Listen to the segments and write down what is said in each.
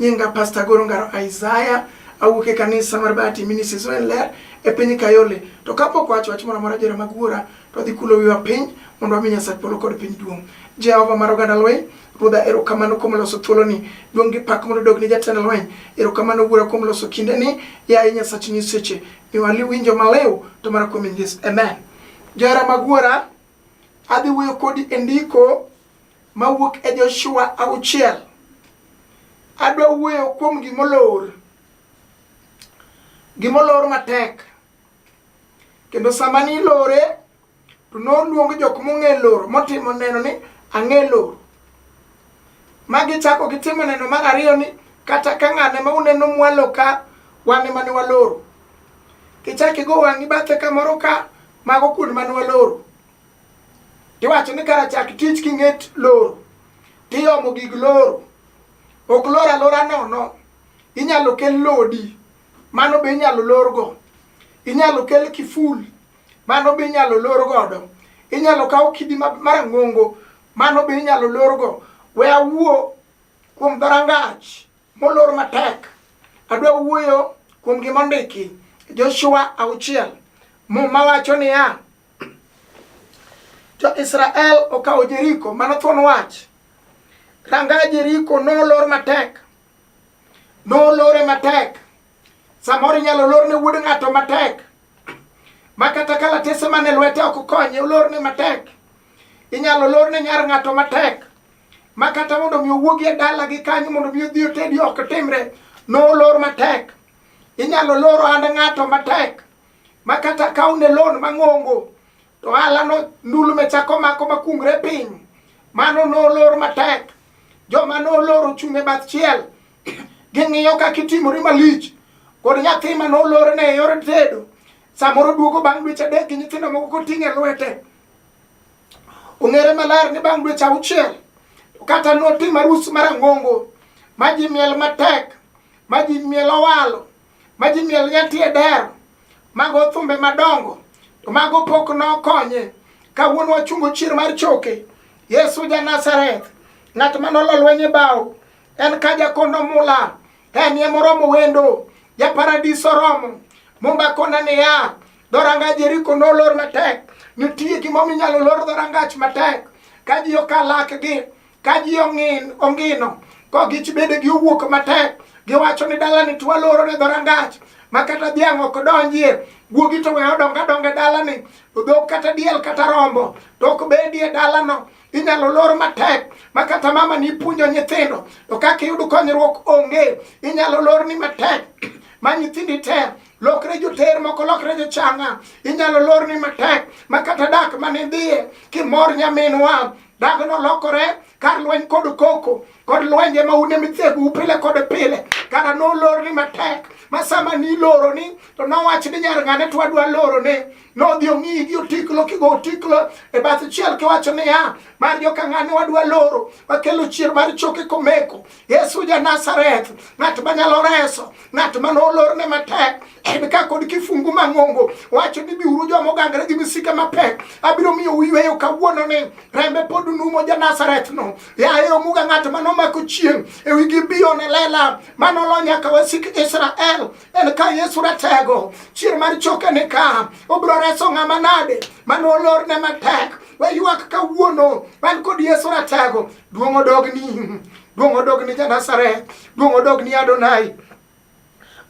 Nyinga Pastor Goro Ngaro Isaiah awuok e kanisa mar Bahati Ministries en ler e piny Kayole. To kapok wacho wach moro amora jera mag wuora to dhi kulo wiwa piny mondo wami Nyasaye polo kod piny duong'. Jehova mar oganda lweny Ruodha erokamano kuom loso thuoloni. Duong' gi pak mondo dog ni jatend lweny. Erokamano Wuora kuom loso kindeni. Yaye Nyasach nyiseche, miwa liwinjo malew to mana kuom Yesu. Amen. Johera mag Wuora, adhi wuoyo kodi e ndiko mawuok e Joshua auchiel. Adwa wuoyo kuom gimolor, gimolor matek, kendo sama nilore to noluong jok mong'e loro motimo neno ni ang'e loro. Ma gichako gitimo neno mar ariyo ni kata ka ng'ane ma uneno mwalo ka wan ema ne waloro. Kichak igo wang'i bathe kamoro ka mago kuond mane waloro. tiwacho ni kara chak tich king'et loro tiyomo gig loro ok lor alora nono inyalo kel lodi mano be inyalo lorgo inyalo kel kiful mano be inyalo lor godo inyalo kaw kidi marang'ongo mano be inyalo lorgo we awuo kuom dhorangach molor matek adwa wuoyo kuom gima ondiki joshua auchiel muma wacho niya Jo-Israel okawo Jeriko, mano thuon wach. Ranga Jeriko nolor matek, nolore matek. Samoro inyalo lor ne wuod ng'ato matek, ma kata kalatese man e lwete ok konye, olor ne matek. Inyalo lor ne nyar ng'ato matek, ma kata mondo mi owuogi e dalagi kanyo mondo mi odhi otedi ok timre, nolor matek. Inyalo lor ohand ng'ato matek, ma kata kaw ne loan mang'ongo to ohala no ndulme chako mako makungre piny mano nolor matek joma nolor ochung' e bath chiel ging'iyo kaka itimori malich kod nyathi ma nolorne e yor tedo samoro duogo bang' dweche adek gi nyithindo moko koting' e lwete ong'ere maler ni bang' dweche auchiel kata notim arus marang'ongo ma ji miel matek ma ji miel owalo ma ji miel nya tie dero mago thumbe madongo to mago pok nokonye kawuono wachungo chier mar choke yesu ja nazareth ng'at ma nolo lweny e bao en ka jakono mula en ye moromo wendo ja paradiso romo mumba kona niya dhoranga jeriko nolor matek nitie gimomiyo inyalo lor dhorangach matek ka ji okalakgi ka ji ong'in ongino ko gich bede gi owuok matek giwacho ni dalani to waloro ne dhorangach ma kata dhiang' ok donjie guogi to weyo dongo adonga e dalani dhok kata diel kata rombo to ok bedie dalano inyalo lor matek ma kata mama ni puonjo nyithindo to kaka iyud konyruok onge inyalo lor ni matek ma nyithindi te lokre joter moko lokre jochanga inyalo lor ni matek ma kata dak mane dhiye kimor nyaminwa Dago nolokore kar lweny kod koko kod lwenje ma une mithegu pile kod pile kara nolorni matek ma sama niloroni to nowach ni nyar ng'ane to wadwa lorone nodhi ong'iyi gi otiklo kigo otiklo e bath chiel kiwacho niya mar joka ng'ane wadwa loro wakelo chier mar choke komeko Yesu ja Nazareth, ng'at manyalo reso, ng'at ma nolorne matek, en ka kod kifungu mang'ongo wacho ni biuru joma ogangre gi misike mapek, abiro miyo uyweyo kawuono ni rembe pod numo ja Nazareth no. Yaye omuga ng'at ma nomako chieng' e wigi biyo ne lela ma nolo nyaka wasik Israel, en ka Yesu ratego, chier mar choke ni ka, obiro reso ng'ama nade ma nolorne matek, waywak kawuono, wan kod Yesu ratego. Duong' odogni, duong' odogni ja Nazareth, duong' odogni Adonai.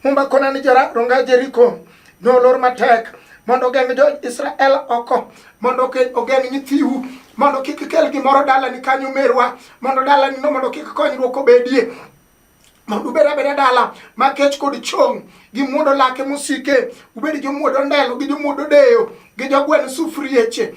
Mumba kona ni jara ronga Jeriko nolor matek mondo ogeng' jo Israel oko mondo ogeng' nyithiu mondo kik kel gimoro dalani kanyo merwa mondo dalani no mondo kik konyruok obedie mondo ubed abeda dala ma kech kod chong' gi muodo lake mosike ubed jomuodo ndelo gi jomuodo deyo gi jogweno sufrieche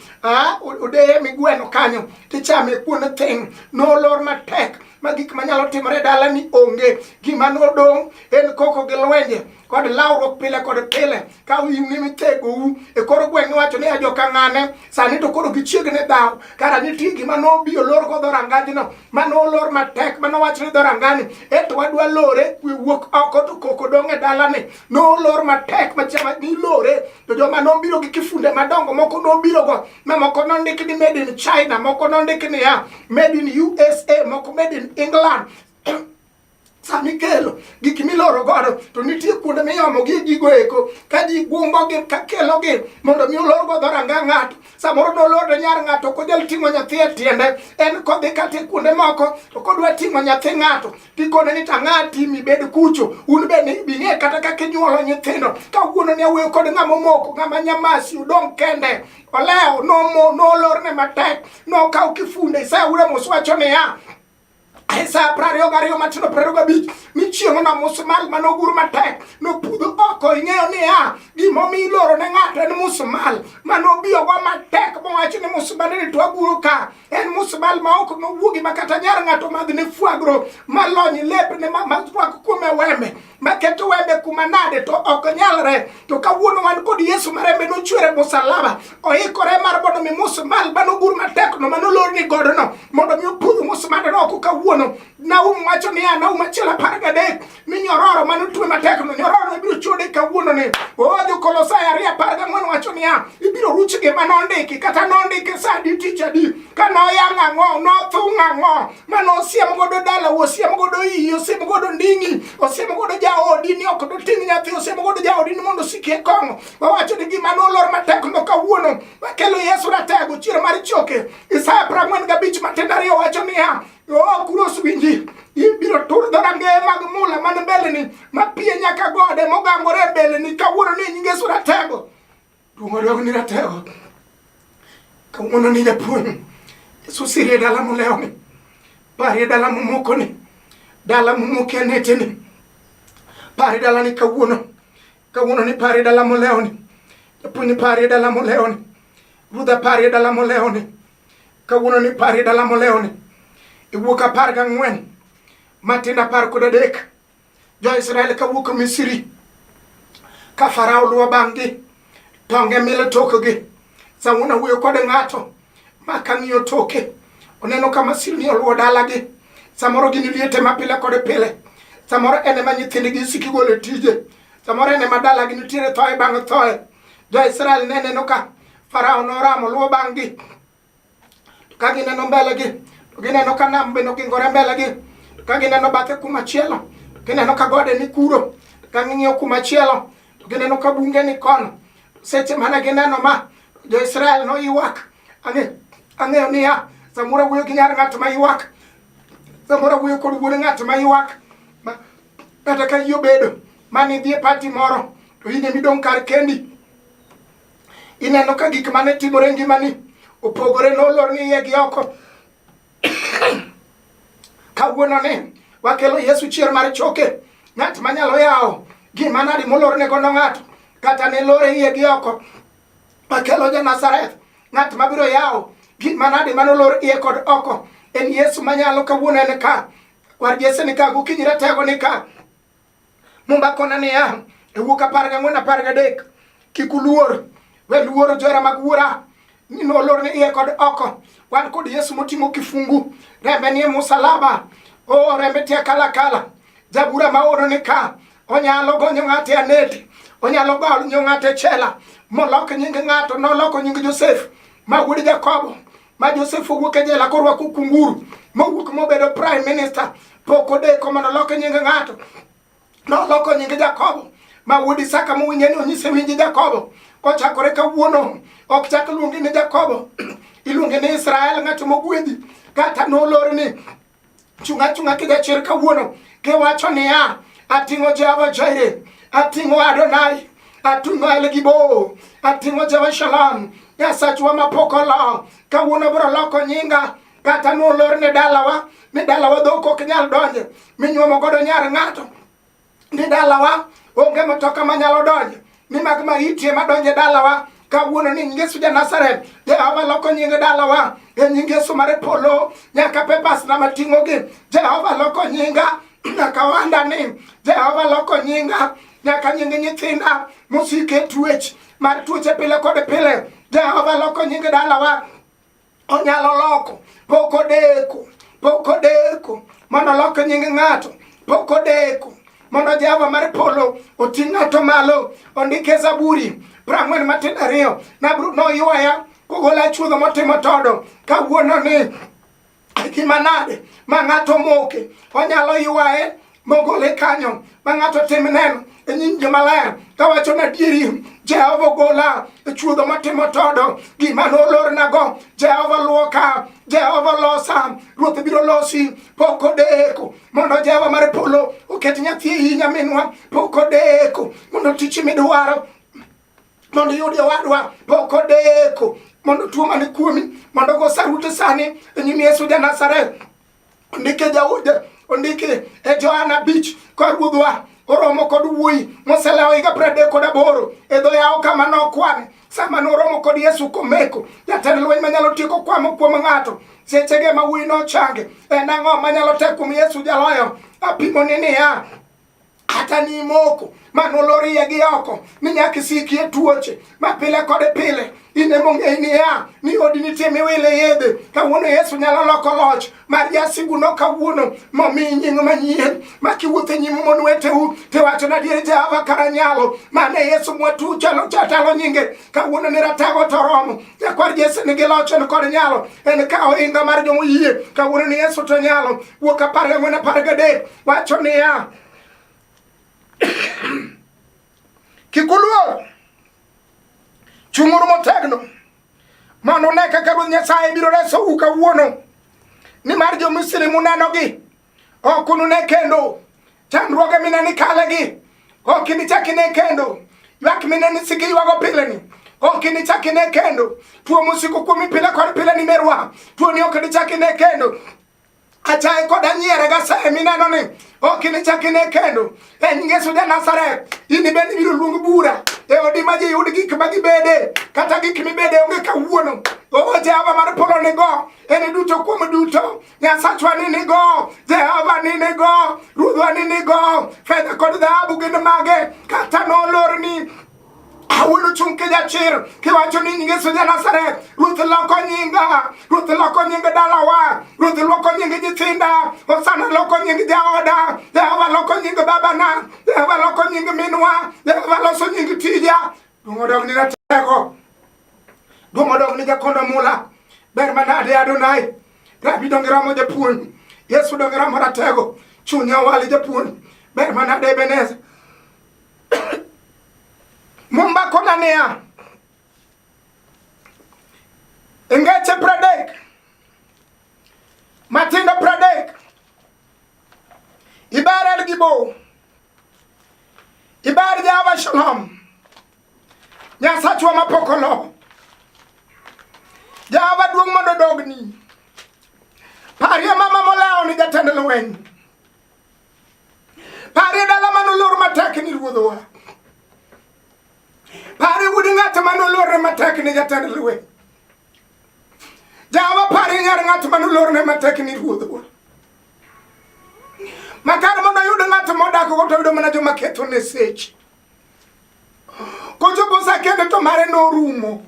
odeye migweno kanyo tichame kuonde thing' nolor matek ma gik manyalo timore dalani onge gima nodong' en koko gi lwenje kod lawruok pile kod pile ka uyimni mitegou e koro gweng' iwacho ni ajoka ng'ane sani to koro gichiegni dhaw kara nitie gima nobi olor go dhorangajno ma nolor matek ma nowach ni dhorangani eto wadwa lore kwe wuok oko to koko dong' e dalani nolor matek machama nilore to joma nobiro gi kifunde madongo moko nobirogo ma moko nondik ni made in china moko nondik niya made in usa moko made in england sama ikelo gik miloro godo to nitie kuonde miyomogi gigo eko ka ji gumbogi ka kelogi mondo mi olor godo ranga ng'ato samoro noloro nyar ng'ato ok onyal ting'o nyathi e tiende en kodhi kata e kuonde moko to kodwa ting'o nyathi ng'ato tikone ni tang'a timi bed kucho un be bing'e kata kaka inyuolo nyithindo ka wuono ni awuoyo kod ng'ama omoko ng'ama nyamasi udong' kende olewo nolorne matek nokaw kifunde isaura moswacho niya Isaya prariyo gariyo matindo prariyo gabich ni chieng'o na musmal mane ogur matek nopudho oko ing'eyo niya gimomiyo iloro ne ng'ato en musmal mane obiyogo matek mowacho ni musmal ni to aguro ka en musmal ma ok nowuogi ma kata nyar ng'ato madhne fwagro malony lepne ma rwak kuome weme maketo wembe kuma nade to ok nyalre to kawuono wan kod yesu ma rembe nochwere musalaba oikore mar mondo mi musmal manogur matekno manolorni godono mondo mi opudh musmadano oko kawuono naum wacho niya naum achiel apar gadek ni nyororo manotwe matekno nyororo ibiro chode kawuono ni o jokolosai ariyo apar gang'wen wacho niya ibiro ruch gima nondiki kata nondiki sa adi tich adi ka noyang' ang'o nothung' ang'o mano osiem godo dala osiem godo iyi osiem godo nding'i osiem godo jaodi ni ok doting' nyathi osiem godo jaodi ni mondo osiki e kong'o wawacho ni gima nolor matek no kawuono wakelo yesu ratego chiero mar choke isaya prang'wen gabich matindo ariyo wacho niya oo kuros winji ibiro tur dhorangeye mag mula man mbeleni mapiye nyaka gode mogangore e mbeleni kawuono ni nyinge suratego Duong' odog ni ratego. Kawuono ni japuonj. Yesu sirie dala molewo ni. Parie dala momoko ni. Dala momoke anete ni. Parie dala ni kawuono. Kawuono ni parie dala molewo ni. Japuonj ni parie dala molewo ni. Ruodha parie dala molewo ni. Kawuono ni parie dala molewo ni. Iwuok apar gang'wen. Matin apar kod adek. jo Israel kawuok Misri ka Farao luwo bang'gi tonge mile tokgi Sauna wuoyo kod ng'ato ma kang'iyo toke oneno ka masirni oluwo dalagi samoro gin liete ma pile kod pile samoro en ema nyithindgi siki golo tije samoro en ema dalagi nitiere thoe bang' thoe jo-israel ne neno ka farao noramo luwo bang'gi Ka gineno mbelegi, to gineno ka nam bende ogingore mbelegi. To ka gineno bathe kuma chielo, to gineno ka gode ni kuro. To ka ging'iyo kuma chielo, to gineno ka bunge ni kono. Seche mane gineno ma, jo-Israel noywak. Ang'e- Ang'eyo niya, samoro wuoyo gi nyar ng'at ma ywak. Samoro wuoyo kod wuod ng'at ma ywak. Ma- Kata ka iyi obedo, mane idhi e pati moro, to in ema idong' kar kendi. Ineno ka gik mane timore e ngimani opogore nolor ni iye gi oko. Kawuono ni wakelo Yesu chier mar choke, ng'at manyalo yawo gima nadi molorne godo ng'ato kata ne lore iye gi oko. Wakelo ja Nazareth, ng'at mabiro yawo gima nadi manolor iye kod oko. En Yesu manyalo kawuono en ka. War Jesse ni ka, gokinyi ratego ni ka. Mumba kona niya, e wuok apar gang'wen apar gadek, kik uluor, we luoro johera mag wuora, ni nolor ni iye kod oko. Wan kod Yesu moting'o kifungu, rembe ni e musalaba, o rembe tia kala kala. Jabura ma oro ni ka, onyalo gonyo ng'ate anete, onyalo gonyo ng'ate chela, molok nying ng'ato, noloko nying Josef, ma wuod Jakobo, ma Joseph owuok e jela korwako kunguru mowuok mobedo prime minister pok odeko mondo olok nying ng'ato noloko nying Jakobo ma wuod Isaka mowinje ni onyise winji Jakobo kochakore kawuono ok chak luongi ni Jakobo iluongi ni Israel ng'at mogwedhi kata nolorni Chunga chunga kija chir kawuono kiwacho niya ating'o Jehova Jaire, ating'o Adonai, ating'o El Gibo, ating'o Jehova Shalom, Nyasachwa mapok olo. Kawuono biro loko nyinga kata nolor ne dalawa mi dalawa dhok ok nyal donje minyuomo godo nyar ng'ato ni dalawa onge matoka manyalo donjo ni mag maitie madonje dalawa kawuono ni Yesu ja Nazareth Jehova loko nyinge dalawa e nying Yesu mare polo nyaka pepas na mating'o gi Jehova loko nyinga nyaka wanda ni Jehova loko nyinga nyaka nyinge nyithinda mosike tuech mar tuoche pile kod pile Jehova loko nyinge dalawa onyalo loko pok odeko pok odeko mondo olok nying ng'ato pok odeko mondo jehova mar polo oti ng'ato malo ondike zaburi prang'wen matin ariyo nabru noywaya kogola chuodho motimo todo kawuono ni gima nade ma ng'ato moke onyalo ywaye mogole kanyo ma ng'ato tim neno e nyim jomaler kawacho na dieri jehova ogola e chuodho matimo todo gima nolornago jehova luoka jehova losa ruoth biro losi pok odeko mondo jehova mar polo oket nyathi e nyaminwa pok odeko mondo tich midwaro mondo iyudi owadwa pok odeko mondo tuo mane kuomi mondo go sarute sani e nyim yesu ja nazareth ondike Daudi ondiki e Johana Beach ka ruodhwa oromo kod wuoyi moselewo higa piero adek kod aboro e dho yawo kama nokwane sama noromo kod Yesu komeko jatend lweny manyalo tieko kwamo kuom ng'ato sechege ma wuoyi nochange en ang'o manyalo tek kuom Yesu jaloyo apimoni niya kata ni moko ma nolorie gi oko ni nyaka isikie tuoche ma pile kod pile in ema ong'eyi niya ni odi nitie miwile yedhe kawuono yesu nyalo loko loch mar jasiguno kawuono momi nying manyien ma kiwuotho e nyim mon weteu tiwacho nadier jehova kara nyalo mane yesu mwatu chalo chatalo nyinge kawuono ni ratago to romo jakwar jesi nigi loch en kod nyalo en ka ohinga mar jomoyie kawuono ni yesu to nyalo Wuok apar gang'wen apar gadek wacho niya kik uluor chung'uru motegno mondo une kaka Ruoth Nyasaye biro resou kawuono nimar jo-Misri munenogi ok unune kendo chandruoge mine ni kalegi ok inichak ine kendo ywak mine ni siki ywago pileni ok inichak ine kendo tuo musiko kuomi pile kod pile ni merwa tuoni ok inichak ine kendo achaye koda nyiere gasaye mineno ni ok inichak ine kendo e nying Yesu ja Nazareth in bende ibiro luong bura e odi ma ji yud gik ma gibede kata gik mibede onge kawuono o Jehova mar polo nigo en duto kuom duto Nyasachwa ni nigo Jehova ni nigo Ruodhwa ni nigo fedha kod dhahabu gin mage kata nolorni Awuono chung' ka jachir kiwacho ni nyinge Yesu ja Nazareth. Ruoth loko nyinga, Ruoth loko nying dalawa, Ruoth loko nying nyithinda, Hosana loko nying jaoda, Jehova loko nying babana, Jehova loko nying minwa, Jehova loso nying tija. Duong' odog ni ratego, duong' odog ni jakondo mula, ber manade Adonai, rabi donge romo japuonj, Yesu donge romo ratego, chunya wali japuonj, ber manade Ebenezer, Mumba konania Ingeche Pradek Matinda Pradek Ibar El Gibo Ibar Java Shalom Nyasachwa Mapokolo Java Duong Mondo Dogni Parie Mama Molao ni jatend lweny Parie dala mane olor matek ni ruodhowa. Parie wuod ng'ato mane olorne matek ni jatend lweny. Jawa parie nyar ng'ato mane olorne matek ni ruodhowa. Makar mondo oyud ng'ato modak go to yudo mana joma ketho ne seche. Kochopo sa kende to mare norumo.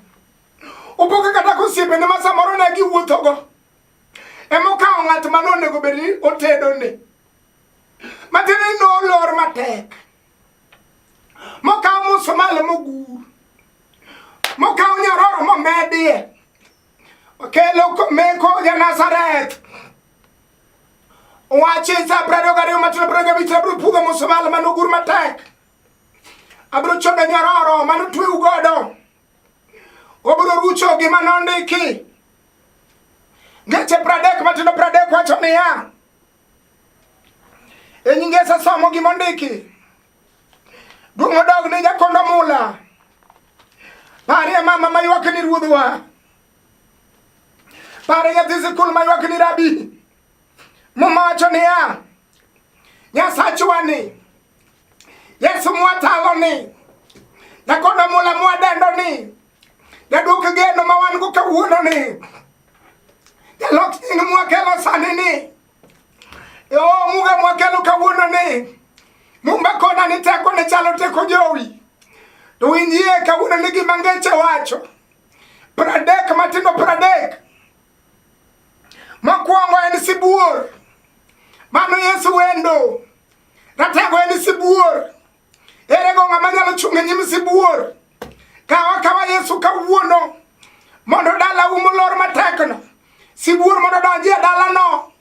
Opoke kata kosiepene ma samoro ne giwuothogo. emokawo ng'at ma nonego bed ni otedone matiende ni nolor matek mokawo musumal mogur mokawo nyororo momedie okelo meko ja nazareth wache sa prado gariyo matino prado gabich abro pudho musumal manogur matek abro chodo nyororo manotweu godo Obiro rucho gima nondiki. Ngeche pradek matindo pradek wacho niya, e nyinge somo gima ondiki. Duong' odog ni jakondo mula. Parie mama maywak ni ruodhwa. Parie nyathi sikul maywak ni rabi. Muma wacho niya, Nyasachwani Yesu mwatalo ni nakono mula mwadendo ni jaduok geno ma wan go kawuono ni jalok nying mwakelo sani ni yo muga mwakelo kawuono ni mumba kona ni teko ne chalo teko jowi to winjie kawuono ni gima ngeche wacho pradek matindo pradek makwongo en sibuor mano yesu wendo Ratego en sibuor. Ere go ng'ama nyalo chung' e nyim sibuor? Kawa kawa Yesu kawuono mondo dala umo lor matekno. Sibuor mondo donji e dalano.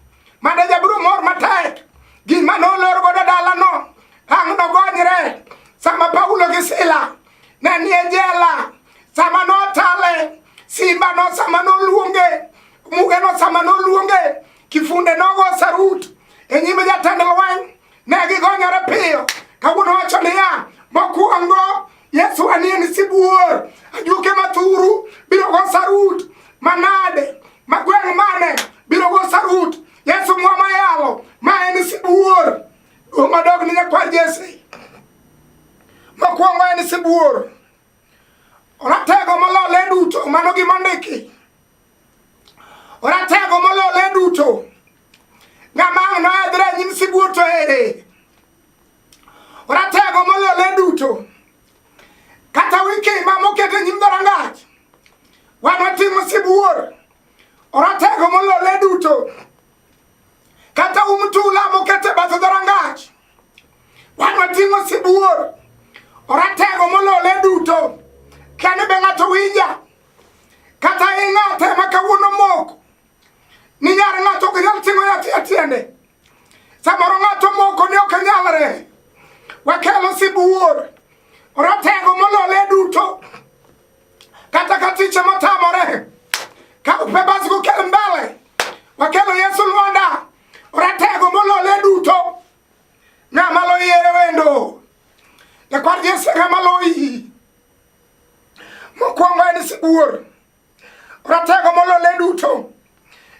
Mada jabiro mor matek. Gima nolor godo dalano. Ang' nogonyre. Sama Paulo gi Sila ne nie jela. Sama notale. Simba no sama noluonge. Muge no sama noluonge. Kifunde nogo sarut e nyim jatend lweny, ne gigonyore piyo. Kawuono wacho niya, mokwongo Yesu anie ni sibuor, ajuke mathuru biro go sarut manade, magweng' mane biro go sarut. Yesu mwama yalo, ma en sibuor. Duong' madog ni nyakwar Jesse. Mokwongo en sibuor. Oratego molole duto, mano gimondiki. Oratego molole duto. Ng'ama ang' noedhre e nyim sibuor to ere? Oratego molole duto. Kata wikima moket e nyim dhorangach. Wan watimo sibuor. Oratego molole duto. Kata um tula moket e bath dhorangach. Wan watimo sibuor. Oratego molole duto. Kane be ng'ato winja. Kata ing'ate ma kawuono mok ni nyar ng'ato ok nyal ting'o yathi e tiende. Samoro ng'ato moko ni ok nyalre. Wakelo sibuor ratego molole duto kata ka tiche motamore ka upebas gukel mbele wakelo Yesu Lwanda ratego molole duto ng'ama loyiere wendo jakwar Yesu ng'ama loyi Mokwongo en sibuor, ratego molole duto,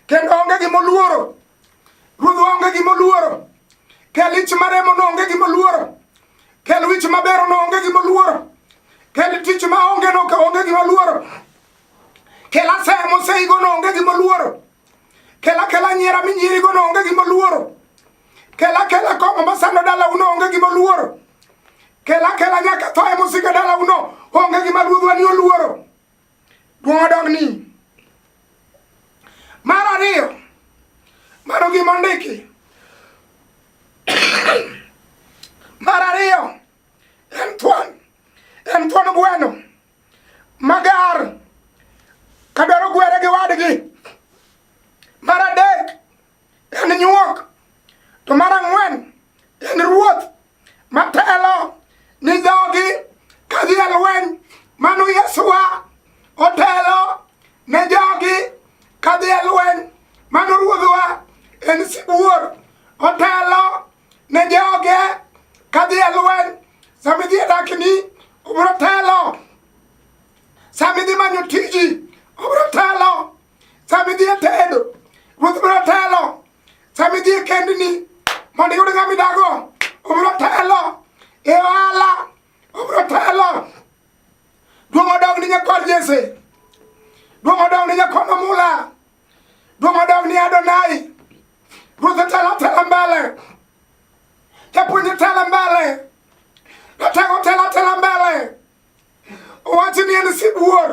kendo onge gima oluoro. Ruodhwa onge gima oluoro, kel ich maremo no onge gima oluoro, kel wich mabero no onge gima oluoro, kel tich ma onge no ka onge gima oluoro, kel asaya moseigo no onge gima oluoro, kel akela nyiera minyierigo no onge gima oluoro. Kela kela kong'o masando dala uno onge gima oluoro. Kela kela nyaka tho e musika dala uno onge gima ruodhwa ni oluoro. Duong' odog ni. Mar ariyo, mano gima ondiki. Mar ariyo, en thuon, en thuon gweno magar kadwaro gwere gi wadgi. Mar adek, en nyuok to mar ang'wen en ruoth matelo ni jogi kadhi e lweny mano yesuwa otelo ne jogi kadhi e lweny mano ruodhwa en sibuor otelo ne joge kadhi e lweny samidhi e dakni obro telo samidhi manyo tiji obro telo sama idhi e tedo ruoth biro telo sama idhi e kendni mondo iyud ng'ama idago obiro telo e ohala obiro telo duong' odog ni nyakod jese duong' odog ni nyakod omula duong' odog ni adonai ruoth otelo telo mbele japuonj otelo mbele jatego telo telo mbele owachi ni en sibuor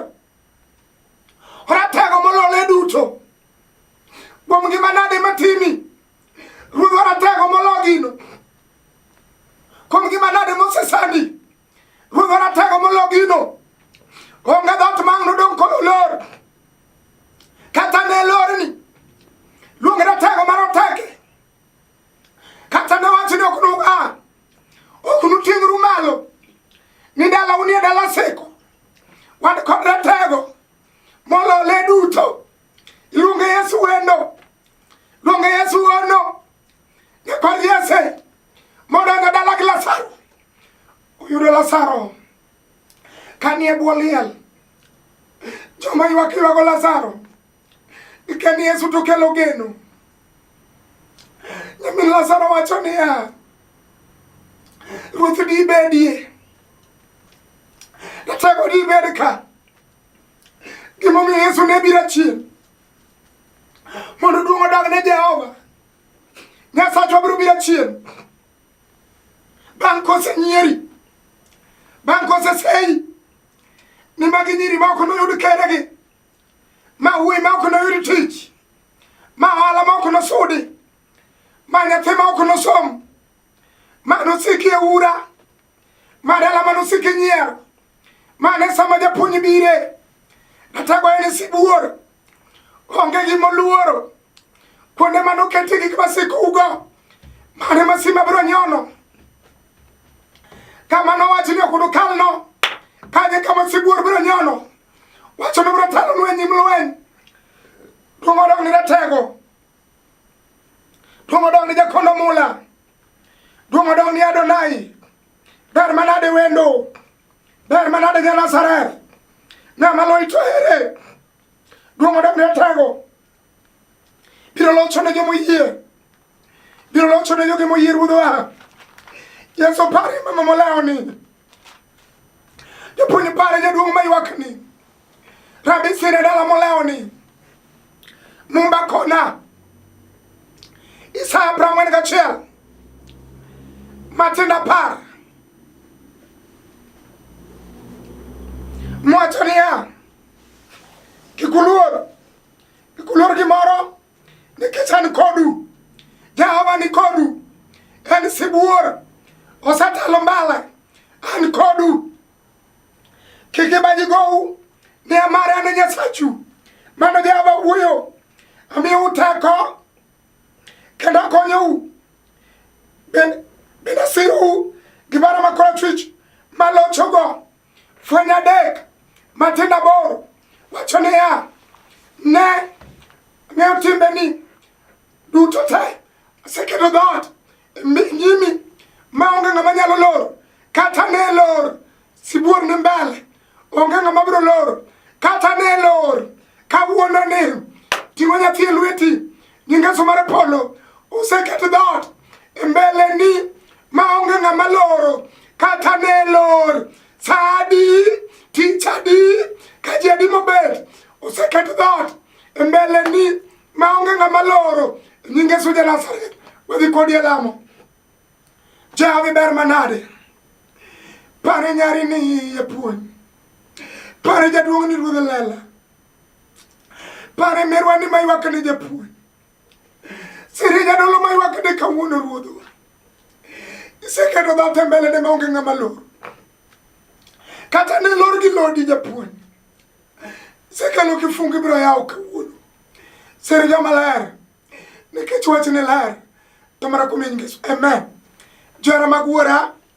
Ratego molole duto. Kuom ngima nade matimi? Ruoth waratego molo gino. Kuom ngima nade mosesani? Ruoth waratego molo gino. Onge dhoot mang' nodong' kod olor. Kata ne lorni. Luong ratego maroteke. Kata ne wacho ni ok nua, ok nuting'ru malo ni dala unie dala siko. Wan kod ratego molole duto. Iluonge Yesu wendo. Luonge Yesu ono. Ne kod Yesu modonjo dala gi Lazaro. Uyudo Lazaro kanie bwo liel. Joma ywak ywago Lazaro. Ikani Yesu to kelo geno. Nyamin Lazaro wacho niya, Ruoth dibedie, ratego dibed ka. Gimomiyo Yesu ne biro achien mondo duong' odog ne Jehova. Nyasachwa biro biro achien bang' kosenyieri, bang' koseseyi, ni magi nyiri ma ok noyud keregi. ma wuoyi ma ok noyud tich ma ohala ma ok nosudi ma nyathi ma ok nosom ma nosiki e ura ma dala ma nosiki nyier ma ne sama japuonj bire natego en sibuor onge gimoluoro Kuonde mane oketie gik masikugo, mane masima biro nyono. Kama nowachi ni ok unukalno, kanye kama sibuor biro nyono. Wacho ni biro talo lweny im lweny. Duong' odog ni ratego. Duong' odog ni jakondo mula. Duong' odog ni Adonai. Ber manade wendo. Ber manade ja Nazareth. Ng'ama loito ere. Duong' odog ni ratego. biro locho ne joma oyie biro locho ne jogi moyie ruodhwa yesu pare mama molawoni jopuonj pare jaduong' maywakni rabi sire dala molawoni mumba kona isaya prang'wen gachiel matinda par mwacho niya kikuluor Gikulor gimoro nikech an kodu. Jehova ni kodu. En sibuor. Osetelo mbele. An kodu. Kik ibaji gowu. Ni amare an Nyasachu. Mano Jehova wuoyo. Amiyo uteko. Kendo akonyou. Bende sirou gi baro ma korachwich malochogo. Fweny adek matindo aboro wacho niya, ne ng'eyo timbeni duto te aseketo dhoot nyimi ma onge ng'ama nyalo loro kata ne lor sibuor ni mbele onge ng'ama biro loro kata ne lor kawuono ni ting'o nyathi e lweti Gi ngeso mar polo oseket dhoot e mbeleni ma onge ng'ama loro kata ne lor sa adi tich adi ka ji adi mobet oseket dhoot e mbeleni ma onge ng'ama loro e nying Yesu ja Nazareth wadhi kodi e lamo jahawi ber manade pare nyari ni iye puonj pare jaduong' ni ruodh lela Pare merwa ni maywak ne japuonj. Siri jadolo maywak ne kawuono ruodho. Iseketo dha tembele ne maonge ng'ama lor. Kata ne lor gi lodi japuonj. Isekelo kifungi biro yawo kawuono. Siri joma ler. Nikech wach ne ler. Tamara kumin Yesu. Amen. Jara mag wuora.